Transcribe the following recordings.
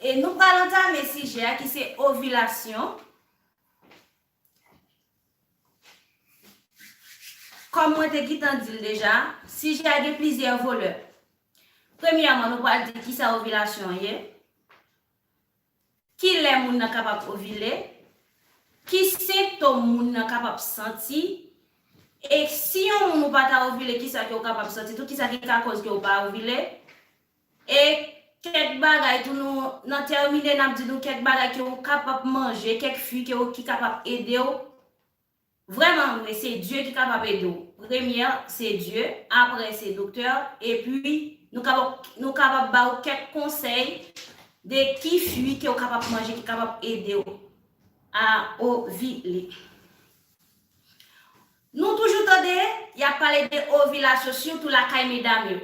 E nou pral antame sijè a ki se ovilasyon Kòm mwen te gitan di l deja, sijè a gen plizyè volè. Premyèman, nou pral di ki sa ovilasyon ye, ki lè moun nan kapab ovile, ki sentom moun nan kapab santi, e si yon moun ou pa ta ovile ki sa ke ou kapab santi tou, ki sa ki ka kòz ke ou pa ovile, E kèk bagay tou nou nan tèmine nap di nou kèk bagay ke ou kapab manje kèk fui ke ou ki kapab edew vrèman vre se Dye ki kapab edew premyè se Dye aprè se doktè epi nou kapab nou kapab ba ou kèk konsèy de ki fui ke ou kapab manje ki kapab edew a ovile nou toujou tande yap pale de ovilasyon sitou lakay medam yo.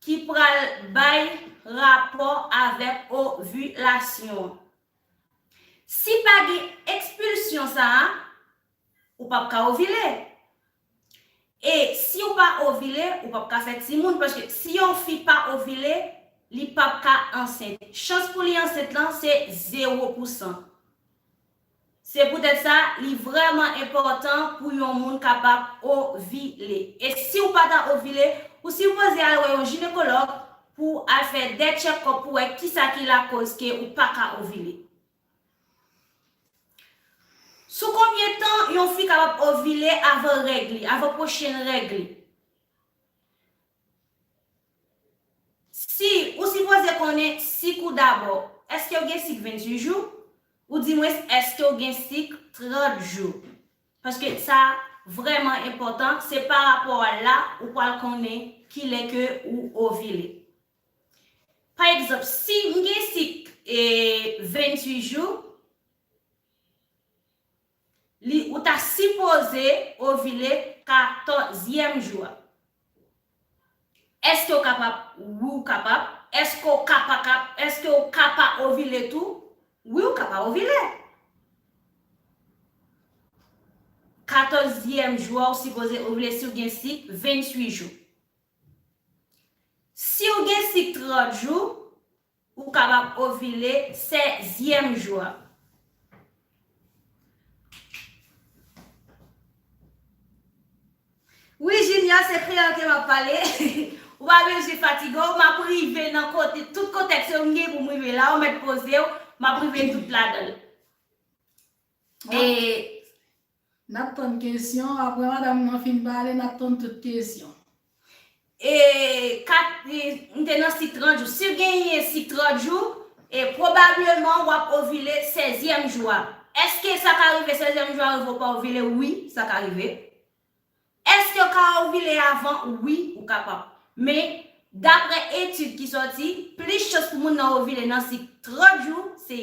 Ki pral bay rapò avèk ovilasyon an. Si pa gen ekspilsyon sa a, ou pap ka ovile. E si ou pa ovile, ou pap ka fè timoun paske si yon fi pa ovile, li pap ka ansent. Chans pou li ansent lan se zewo pousan. Se poutèt sa, li vrèman enpòtan pou yon moun kapab ovile. E si w pa ta ovile, ou sipoze al wè yon jinekològ pou w al fè de tchèkòp pou wè kisa ki lakoz ke ou pa ka ovile. Sou konbyen tan yon fi kapab ovile avan règ li, avan pwochen règ li? Si, ou sipoze konnen sik ou dabò. Èske ou gen sik 28 jou? Ou di mwens èske ou gen sik 30 jou? Paske sa vrèman enpòtan, se pa rapò a la ou pwal konnen ki lè ke ou ovile. Pa egzanp, si m gen sik 28 jou, Li ou ta sipoze ovile katòzyèm jou a. Èske ou kapab? Wi ou kapab. Èske ou ka pa kap? Èske ou ka pa ovile tou? Wi ou ka pa ovile. Katòzyèm jou a ou sipoze ovile si ou gen sik 28 jou. Si ou gen sik 30 jou, Ou kapab ovile sèzyèm jou a. Wi Junior se kreyòl ke map pale, ou pa bezwen fatige w, map rive nan kote, tout kontèks yo m gen pou m rive la, ou mèt poze w, map rive tout ladan l. E Nap tann kesyon, aprè madam nan fin pale nap tann tout kesyon. E kat m te nan sik 30 jou. Si w genyen sik 30 jou, e pwobableman w ap ovile sezyèm jou a. Èske sa ka rive sezyèm jou a rive ou pa ovile? Wi, sa ka rive. Èske yo ka ovile avan? Wi, ou kapab. Men, dapre etid ki sòti, plis chans pou moun nan ovile nan sik 30 jou, se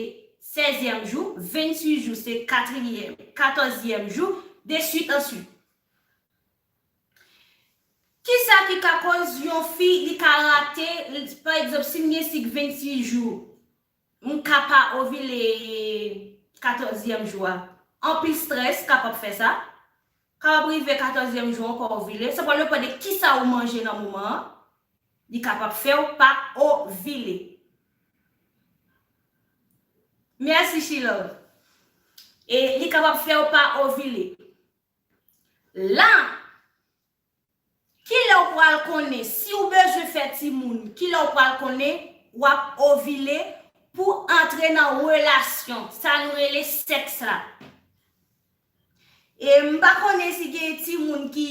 sèzyèm jou, 28 jou, se katriyèm, katòzyèm jou, de suit an suit. Ki sa ki ka koz yon fi li ka rate, pa egzanp, si m gen sik 26 jou, M ka pa ovile katòzyèm jou a. Anpil strès kapab fè sa. Kapab rive katòzyèm jou an ou pa ovile. Sa pral depan de kisa ou manje nan moman an. Li kapab fè w pa ovile. Mèsi Chilove. E li kapab fè w pa ovile. La! Kilè w pral konnen si w bezwen fè timoun Kilè w pral konnen w ap ovile pou w antre nan relasyon sa nou rele sèks la E m pa konnen si gen timoun ki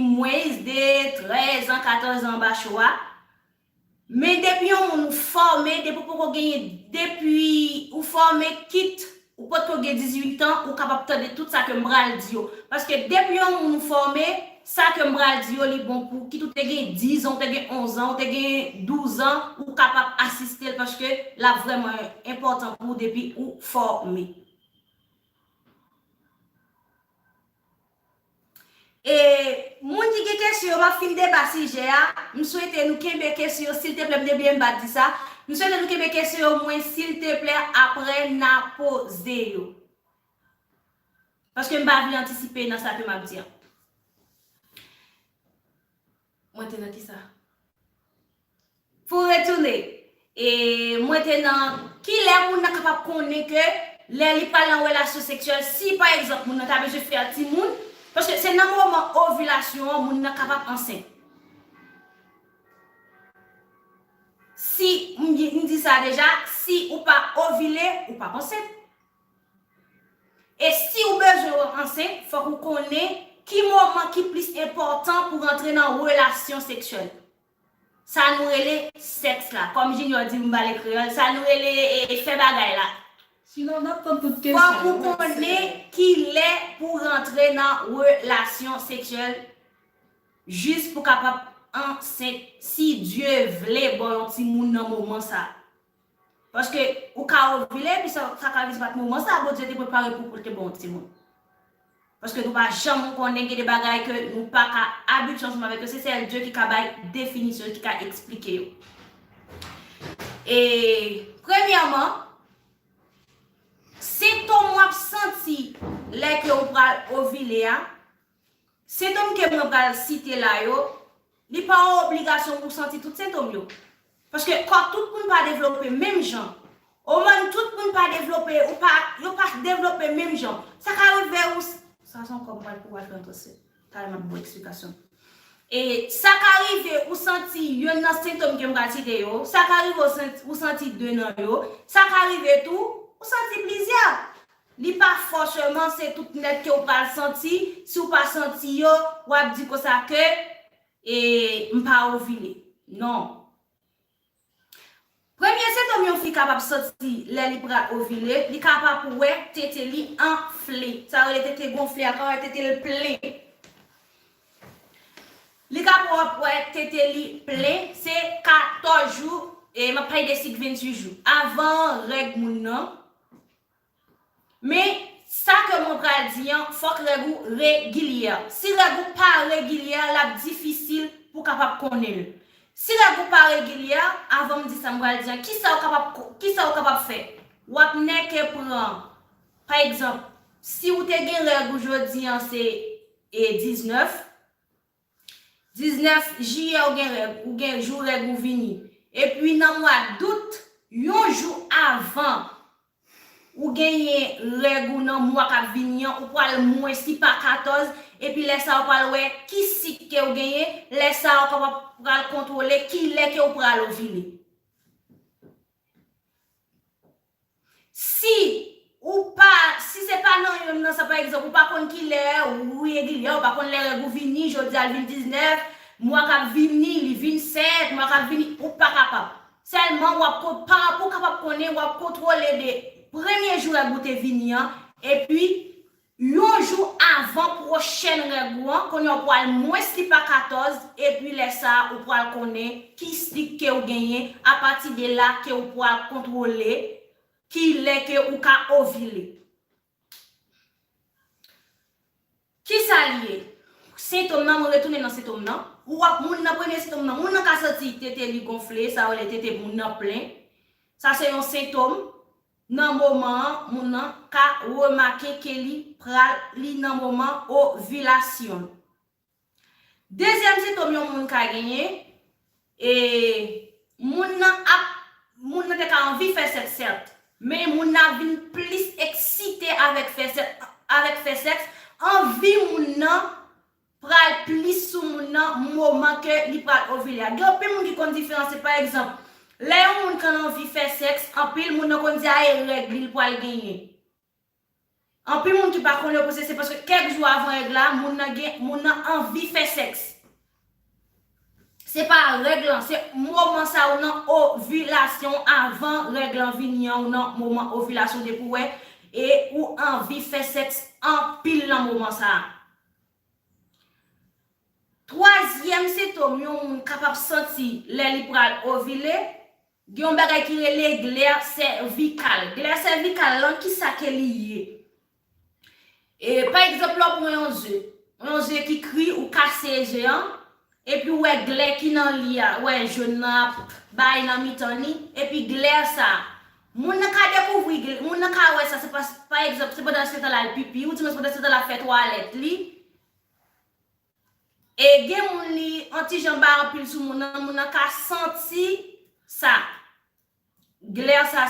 mwens de 13 an 14 an anba cho a Men depi yon moun ou fòme depi ou poko genyen depi ou fòme kit ou potko gen 18 an ou kapab tande tout sa kem pral di yo paske depi yon moun ou fòme sa kem pral di yo li bon pou kit ou te gen 10 an ou te gen 11 an ou te gen 12 an ou kapab asistel paske lap vrèman enpòtan pou ou depi ou fòme. E Moun ki gen kesyon yo map fin deba sijè a m swete nou kenbe kesyon yo silteplè m te bliye m pa di sa m swete nou kenbe kesyon yo mwen silteplè aprè na poze yo paske m pa vle antisipe nan sa ke map di an. Mwen te nan kisa? Pou retounen, e mwen te nan kilè moun nan kapab konnen ke lè li pral nan relasyon seksyèl, si pa egzanp moun nan ta bezwen fè timoun, paske se nan moman ovilasyon an moun nan kapab ansent. Si, m di sa deja, si ou pa ovile, ou pap ansent. E si ou bezwen ou ansent, fòk ou konnen ki moman ki plis enpòtan pou rantre nan relasyon seksyèl. Sa nou rele sèks la. Kòm Junior di m pale kreyòl, sa nou rele fè bagay la. Fòk ou konnen ki lè pou w rantre nan relasyon seksyèl jis pou w kapab ansent si Dye vle ba w yon timoun nan moman sa. Paske ou ka ovile epi sa ka vle di se pat moman sa Bondye te prepare pou poul te baw timoun. Paske nou pa janm konnen gen de bagay ke nou pa ka abitye ansanm avèk yo se sèl Dye ki ka bay definisyon yo ki ka eksplike yo. E premyèman sentom wap santi lè ke ou pral ovile a Sentom ke mwen pral site la yo, li pa yon obligasyon pou w santi tout sentom yo. Paske kò tout moun pa devlope menm jan. Omòn tout moun pa devlope, ou pa, yo pa devlope menm jan. Sa ka rive ou, sa son kòm pral pou Adran Tòsè, talè map ba w eksplikasyon. E, sa ka rive ou santi yonn nan sentom ke m pral site yo, sa ka rive ou santi de nan yo, sa ka rive tou, ou santi plizyè. Li pa fòcheman se tout nèt ke ou pral santi, si ou pa santi yo, ou ap di konsa ke, e, m pa ovile. Non. Premye sentòm yon fi kapab santi lè li pral ovile, li kapab wè tete li anfle. Sa yo rele tete gonfle a, ka wè tete l plen. Li kapab wè tete li plen, se 14 jou, e m ap pale de sik 28 jou, avan règ moun nan. Men, sa ke mwen pral di an, fòk règ ou regilyè. Si règ ou pa regilyè, l ap difisil pou w kapab konnen l. Si règ ou pa regilyè, avan m di sa m pral di an, ki sa ou kapab, ki sa ou kapab fè? W ap nèke pran, pa egzanp, si ou te gen règ ou jodi an se 19, 19 jiyè ou gen règ ou gen jou règ ou vini epi nan mwa dout yon jou avan ou genyen règ ou nan mwa kap vini an ou pwal mwen si pa 14 epi lè sa ou pwal wè ki sik ke ou genyen lè sa ou kapab pral kontwole kilè ke ou pral ovile. Si ou pa, si se pa nan youn nan sa pa egzanp ou pa konn kilè ou regilyè, ou pa konn lè règ ou vini, jodi a l vin 19, mwa k ap vini li vin 7, mwa k ap vini, ou pa kapab. Sèlman w ap ko, pa pou w kapab konnen, w ap kontwole de premye jou règ ou te vini an, epi Yon jou avan pwochèn règ ou an, kounye a ou pwal mwens ki pa 14 epi lè sa a ou pwal konnen ki stik kew genyen apati de la kew pwal kontwole ki lè ke ou ka ovile. Kisa li ye? Sentom nan mwen retounen nan sentom nan, ou wap moun nan premye sentom nan moun nan ka santi tete li gonfle sa yo rele tete moun nan plen sa se yon sentom Nan moman an, moun nan ka remake ke li pral li nan moman ovilasyon l. Dezyèm sentom yon moun ka genyen, e moun nan ap moun nan te ka anvi fè sèks sèt, men moun nan ap vin plis eksite avèk fè sèks, avèk fè sèks, anvi moun nan pral plis sou moun nan moman ke li pral ovile a. Gen anpil moun ki konn diferanse pa egzanp, lè yon moun konn anvi fè sèks anpil moun nan konn di a e règ li li pral genyen. Anpil moun ki pa konn yo panse se paske kèk jou avan règ la moun nan gen moun nan anvi fè sèks. Se pa règ lan, se moman sa ou nan ovilasyon w avan règ lan vini an ou nan moman ovilasyon depi w wè e ou anvi fè sèks anpil nan moman sa. Twazyèm sentom yon moun kapab santi lè li pral ovile, gen yon bagay ki rele glè sèvikal. Glè sèvikal lan kisa ke li ye? E pa egzanp lè w pran yon ze, yon ze ki kri ou kase ze an, Epi ou wè glè ki nan li a, ou wè jaune nan ap bay nan mitan li, epi glè sa, moun nan ka dekouvri gl, moun nan ka wè sa se pas, pa egzanp, se pandan l gentan l al pipi, ou di mwen se pandan l gentan l ap fè twalèt li, e gen moun li on ti jan bay anpil sou moun nan, moun nan ka santi sa, glè sa.